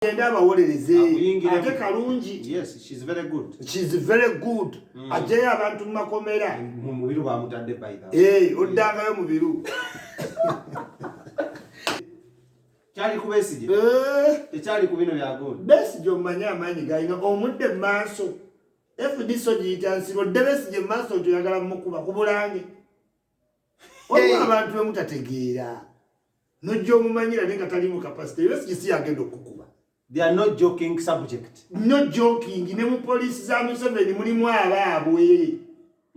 agende abawolereze ate kalungi mm. ajjayo abantu mu makomera eh, oddangayo mubiru kyali ku besige eh. tekyali ku bino byagondi besige omumanye amaanyi galina omudde mu maaso fdc ogiyita nsibo dde besige mu maaso nti oyagala mukuba ku bulange waliwo abantu bemutategeera nojja omumanyira naye nga talimu kapasite era sikisi yagenda okukuba they are not joking subject no joking ne mu poliisi za museveni mulimu abaabwe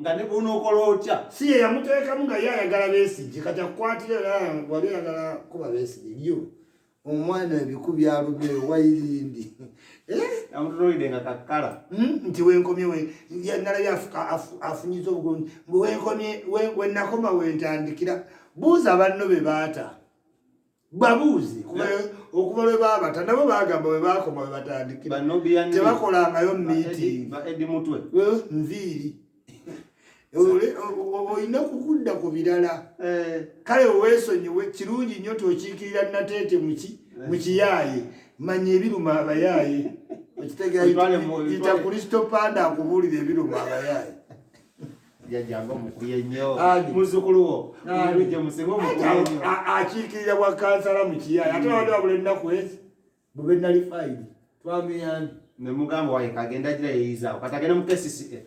nga ne bwonokola otya si ye yamuteekamu nga ye ayagala besigye kati akukwatira era wali ayagala kuba besigye yo omwana ebiku byalumye wayirindi amutunuulidde nga kakkala hmm? nti wenkomye nalabye afunyiza obugunji wenkomye wenakoma wentandikira buuza banno be baata babuuzi okuva lwe baabata nabo bagamba bwe baakoma bwe batandikira tebakolangayo miitingi nviiri olina kukudda ku birala eh. kale weesonyiwe kirungi nnyo tokiikirira nateete muki eh. mukiyaaye manya ebiruma abayaaye okitegeaita kristo panda akubuulira ebiruma abayaaye yajjanga omukulu ennyo muzzukulu wo olujja musebe omukulu ennyo akiikirira bwa kansala mu kiyaaya ate wabadde wabula ennaku ezi bwe bennali fayiri twamuyambi ne mugamba waye kagenda gira yeyizaawo kati agenda mu kcca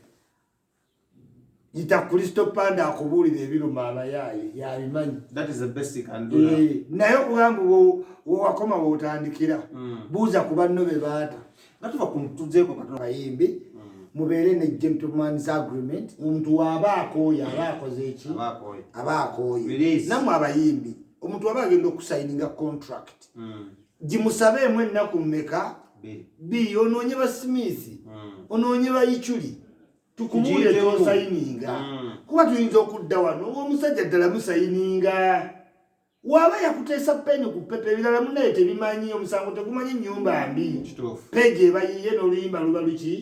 yita kristo panda akubuulira ebiruma abayaaye yabimanyi eh, naye okugamba wewakoma wotandikira hmm. buuza ku banno be baata nga tuva ku tuzeeko katono kayimbi mm. mubeere ne gentlemans agreement omuntu waaba akooye aba akoze eki aba akooye namwe abayimbi omuntu waba agenda okusayininga contract mm. gimusabeemu ennaku mmeka bi onoonye basimiizi mm. onoonye bayiculi tukubuule tosayininga kuba tuyinza okudda wano omusajja ddala musayininga waba yakuteesa peni ku pepa ebirala munaye tebimanyi omusango tegumanyi nyumba mbi peji ebayiye noluyimba luba luki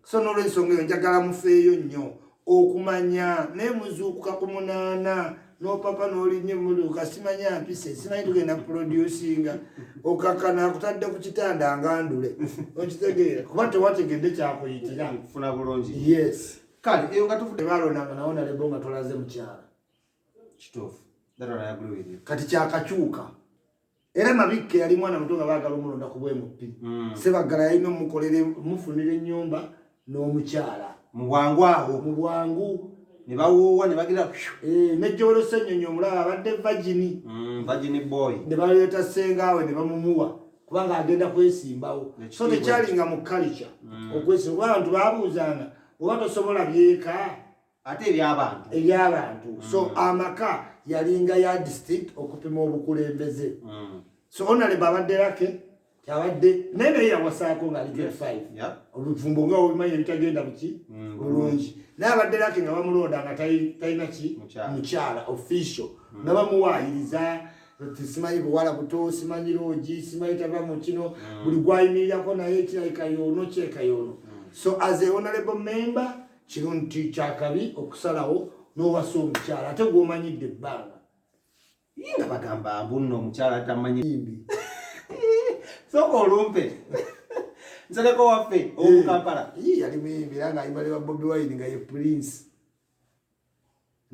so nolwensonga eyo njagala mufeeyo nnyo okumanya naye muzuukuka ku munaana nopapa nolinye muluka simanya mpise simanyi tugenda kuproducinga okakana akutadde ku kitanda ngandule okitegeera kuba tewategedde kyakuyitira funa bulungi yes kale eyo nga tuvude balonanga nawo nalebo nga tolaze mukyala kituufu kati kyakakyuka era mabikke yali mwana muto nga baagala omulonda ku bwemupi hmm. sebaggala yalina omukolere mufunira ennyumba n'omukyala mu bwangu awo mu bwangu ne bawoowa ne bagira eh, nejjowero senyonyi omulaba abadde vagini hmm, vagini boy ne baleeta sengaawe ne bamumuwa kubanga agenda kwesimbawo so tekyalinga mu kalica hmm. okwesimba kuba abantu babuuzanga oba tosobola byeka ate ebyabantu ebyabantu mm. so amaka yalinga ya district okupima obukulembeze mm. so onalebe abadde lake abadde naye naye yawasaako nga ali grade five oluvumbo nga obimanyi ebitagenda buki mm, bulungi naye abadde lake nga bamulonda nga talina ki mukyala official nga bamuwaayiriza simanyi buwala buto simanyi loogi simanyi tava mu kino mm. buli gwayimirirako naye ekirayika yoono kyeka yoono mm. so as a honorable member kino nti kyakabi okusalawo n'owasa omukyala ate gw'omanyidde ebbanga ye nga bagamba mbunno omukyala tamanyi mbi soka olumpe nsereko waffe owomukampala yali muyimbi era nga ayimba ne babobi wine nga ye prince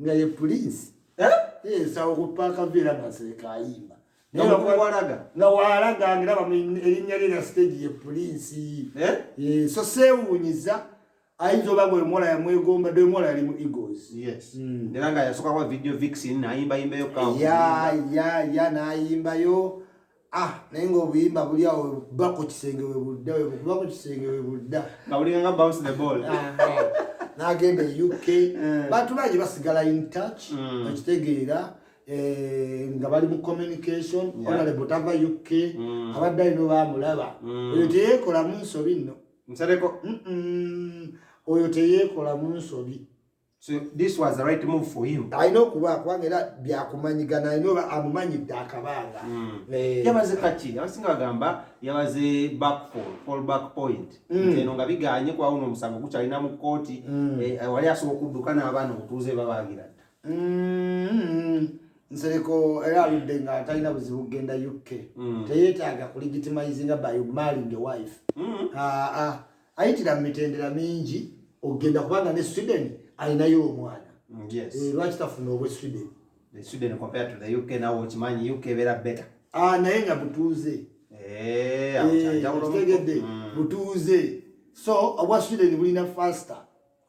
nga ye pulinsi eh? ensawo ku paaka viira nga seeka ayimba nga walaga ngiraba erinnya lye na siteegi ye pulinsi eh? eh, so seewuunyiza ayinza oba nga omuwala yamwegomba dde omuwala yali mu egos hmm. era nga yasookakuba video vixin nayimbayimbayo ya ya ya nayimbayo ah naye ng'obuyimba buli awo webuba ku kisenge webudda webukuba ku kisenge webudda nga bulinga nga bounce the ball n'agenda e uk eh. bantu bangi basigala in touch mm. okitegeera Eh, nga bali mu communication onale butava uk mm. abadde alina obamulaba mm. oyo teyekolamu nsobi nno oyo teyekolamu nsobi So this was the right move for him. I know kuba kubanga era byakumanyigana I know amumanyidde akabanga. Hmm. Eh. Yabaze kaki abasinga bagamba yabaze back for fall back point. Hmm. Nze no nga biganye kwa uno musango kukyalina mu kkooti hmm. eh, wali asobola okudduka n'abaana obutuuze babagira dda. Nsereko era aludde nga atalina buzibu kugenda UK. Teyeetaaga kulegitimizinga by marrying a wife. Ah, ah. ayitira mu mitendera mingi okugenda kubanga ne sweden alinayo omwana mm, eh, lwaki tafuna obwe sweden ah, naye nga butuuze eh, eh, tegedde mm. butuuze so obwa sweden bulina faster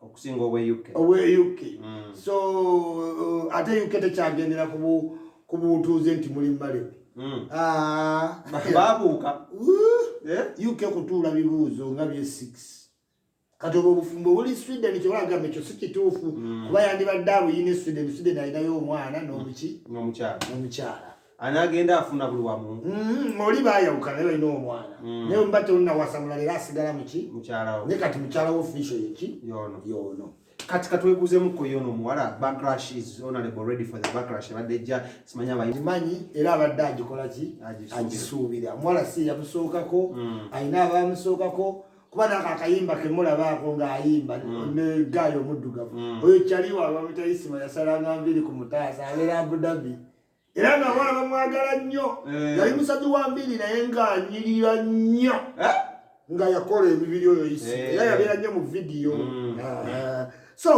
okusinga obwe uk obwe uk mm. so uh, ate uk tekyagendera ku butuuze nti muli mbalebe mm. ah. babuuka eh? uk kutuula bibuuzo nga bye six kati obwo obufumbo buli sweden kyewagamba ekyo si kituufu mm. kuba yandibadde abuyina e sweden sweden alinayo omwana nomuki mm. nomukyala anagenda afuna buli wamu mm, oli bayawuka naye olina omwana mm. naye mba teonawasamula leero asigala muki mukyalawo naye kati mukyala wo fisho yeki yono yono kati katwebuzemuko yono omuwala backlash is honorable ready for the backlash ebadde ejja simanya bamanyi era abadde agikola ki agisuubira omuwala si yamusookako mm. alina abamusookako kuba nako akayimba kemulabaako ng'ayimba mm. ne gaayo omuddugavu oyo kyaliwo abamutayisima yasalanga nviri ku mutaasa abeera abudabi era nga abawala bamwagala nnyo eh. yali musajja wa mbiri naye ng'anyirira nnyo eh? nga yakola emibiri oyo isi eh. era yabeera nnyo mu vidiyo mm. ah. so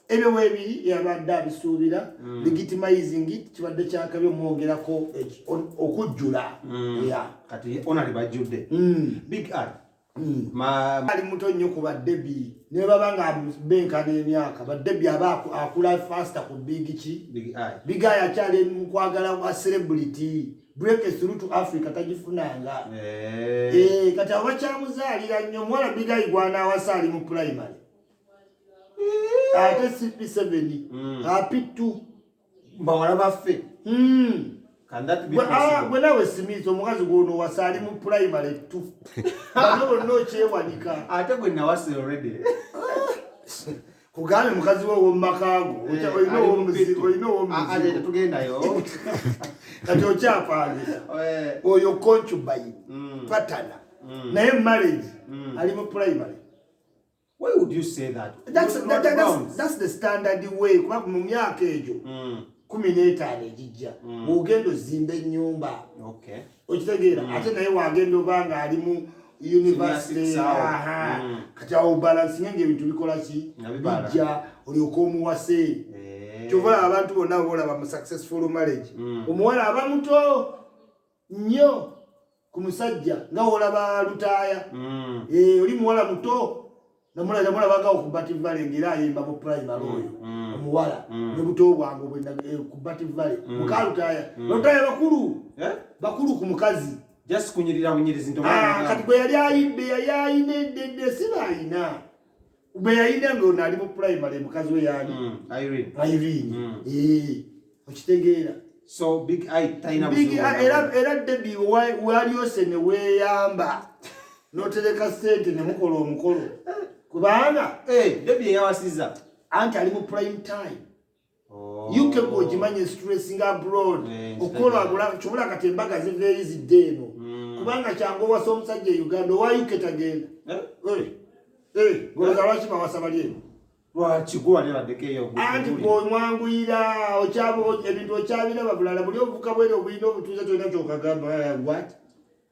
ebyo webiri yabadde abisuubira mm. legitimizing kibadde kyakabi omwogerako okujjula mm. kati onali bajjudde big art Hmm. ali muto nnyo ku badebi nebaba nga benka n'emyaka badebi aba akula fasta ku big ki bigayi akyali mukwagala wa celebrity break through to africa tagifunanga eh. Eh, kati abo bakyamuzaalira nnyo omuwala bigayi gwanawasa ali mu primary eh. ate cp7 hmm. api2 bawala baffe hmm. ah, gwe nawe simiiza omukazi gwono wasa ali mu primary t ano bonna okyewanika ate gwe nawasa olredy kugambye mukazi we womumakago eh, olina owomuzibutugendayo ah, ah, kati okyapangisa eh. oyo concubayi mm. patana mm. naye marriage mm. ali mu primary Why would you say that? That's, that, that, that's, that's the standard way kuba mu myaka egyo mm. kumi n'etaano egijja mm. ogenda ozimba ennyumba okitegeera mm. ate naye wagenda oba nga ali mu university kati awo balansinge ngaebintu bikola ki bijja olyoka omuwase eh. kyova abantu bonna boolaba mu successful marriage omuwala aba muto nnyo ku musajja nga wolaba lutaaya mm. eh, oli muwala muto namulabagawo ku bativale ngaera ayimba mu primary mm, oyo mm. omuwala ne buto bwange eh, ku bativale muka lutaaya lutaaya bakulu eh? bakulu ku mukazi just kunyirira bunyirizi ah, kati bwe yali ayidde yali ayina eddedde sibaayina bwe yayina nga ono ali mu primary mukazi we yaani mm, irene mm. eh, okitegeera era debi walyose ne weeyamba notereka sente ne mukola omukolo kubanga eh, debi eyawasiza anti ali mu prime time uk oh. gwogimanyi stressing abroad okukola agula kyobola kati embaga ziveeyo zidde eno hmm. kubanga kyangu owasa omusajja e uganda owa uk tagenda eh? Eh, eh, ngoza lwaki bawasa bali eno anti bwomwanguyira ebintu okyabiraba bulala buli obuvuka bwere obulina obutuuza tolina kyokagamba wat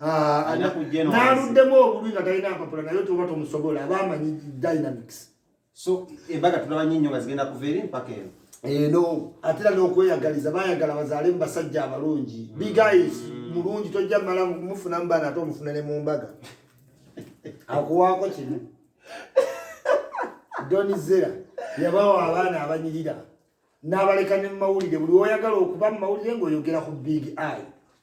Ah, naluddemu obulwi nga talina mpapula naye tuba tomusobola aba amanyi dynamics so embaga tulaba nyo nyo nga zigenda kuva eri mpaka eno eno eh, atera n'okweyagaliza bayagala bazaale mu basajja abalungi mm. bigais mm. mulungi tojja mala mufuna mu baana ate omufuna ne mu mbaga akuwaako kino donizera yabawo abaana abanyirira n'abaleka ne mu mawulire buli woyagala okuba mu mawulire ng'oyogera ku big eye